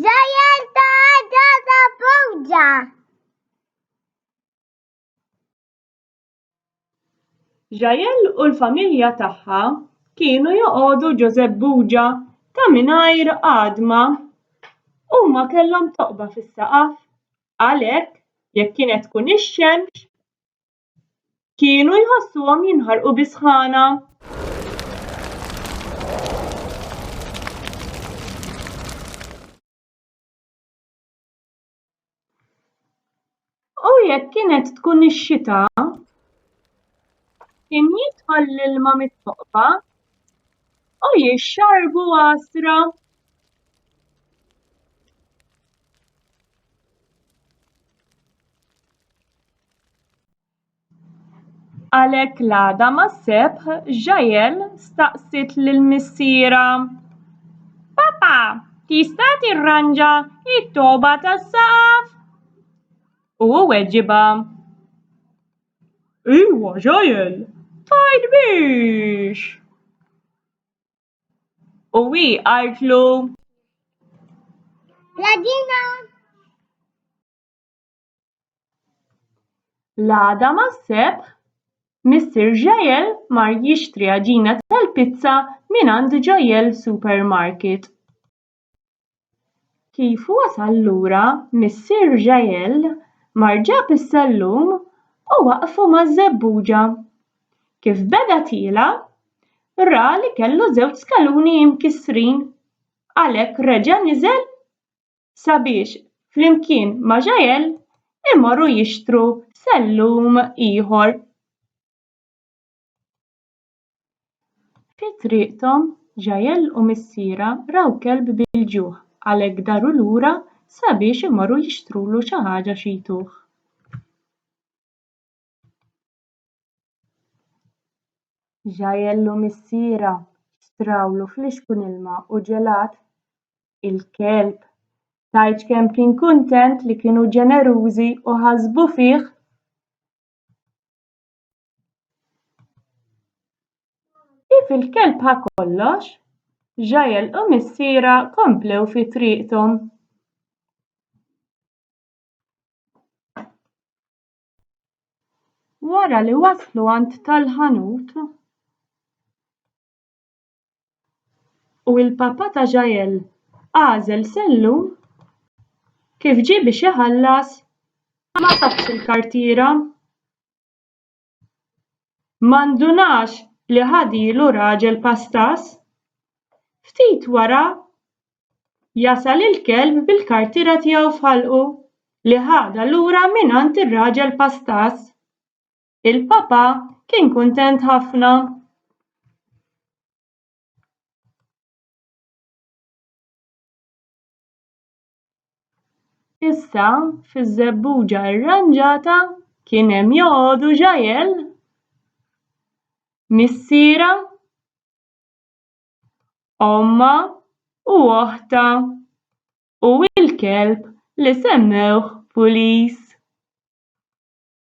Żejjed għadha ta' fewġa. Jael u l-familja tagħha kienu joqogħdu Ġożepp Buġa ta' mingħajr għadma. Huma kellhom toqba fis-saqaf. Għalhekk, jekk kienet tkun ix-xemx, kienu jħossuhom jinħarqu bi sħana. U jekk kienet tkun ix-xita, kien jidħol l-ilma mit-toqba u jixxarbu għasra. Għalhekk l-għada mas-seb, Ġael staqsiet lil missierha, Papa, tista' tirranġa t-togħba tas-saqaf? U hu weġibha, Iva, Ġael, tajt biex. U hi qaltlu, La dina! L-għada mas-Sebt, Missier Jael mar jixtri għaġina tal-pizza mingħand Jael Supermarket. Kif wasal lura, Missier Jael mar ġab is-sellum u waqfu maż-żebbuġa. Kif beda tiela', ra li kellu żewġ skaluni mkissrin, għalhekk reġa' niżel sabiex flimkien ma' Jael imorru jixtru sellum ieħor. Fi triqthom, Jael u missierha raw kelb bil-ġuħ għalhekk daru lura sabiex imorru jixtrulu xi ħaġa xi jtuh. Ġajellu missiera xtrawlu flixkun ilma u ġelat. Il-kelb tajċ kemm kien kuntent li kienu ġenerużi u ħasbu fih. Kif il-kelb ħa kollox, Ġajel u missiera komplew fi triqthom. Wara li waslu għand tal-ħanut u l-papà ta' Jael għażel sellum kif ġie biex iħallas ma safx il-kartiera. Ma ndunax li ħadilu raġel pastas. Ftit wara jasal il-kelb bil-kartiera tiegħu f'ħalqu li ħadha lura mingħand ir-raġel pastaż il-papà kien kuntent ħafna issa fiż-żebbuġa rranġata kien hemm joqogħdu ġgħajel missiera ommha u oħtha u l-kelb li semmewh Pulis.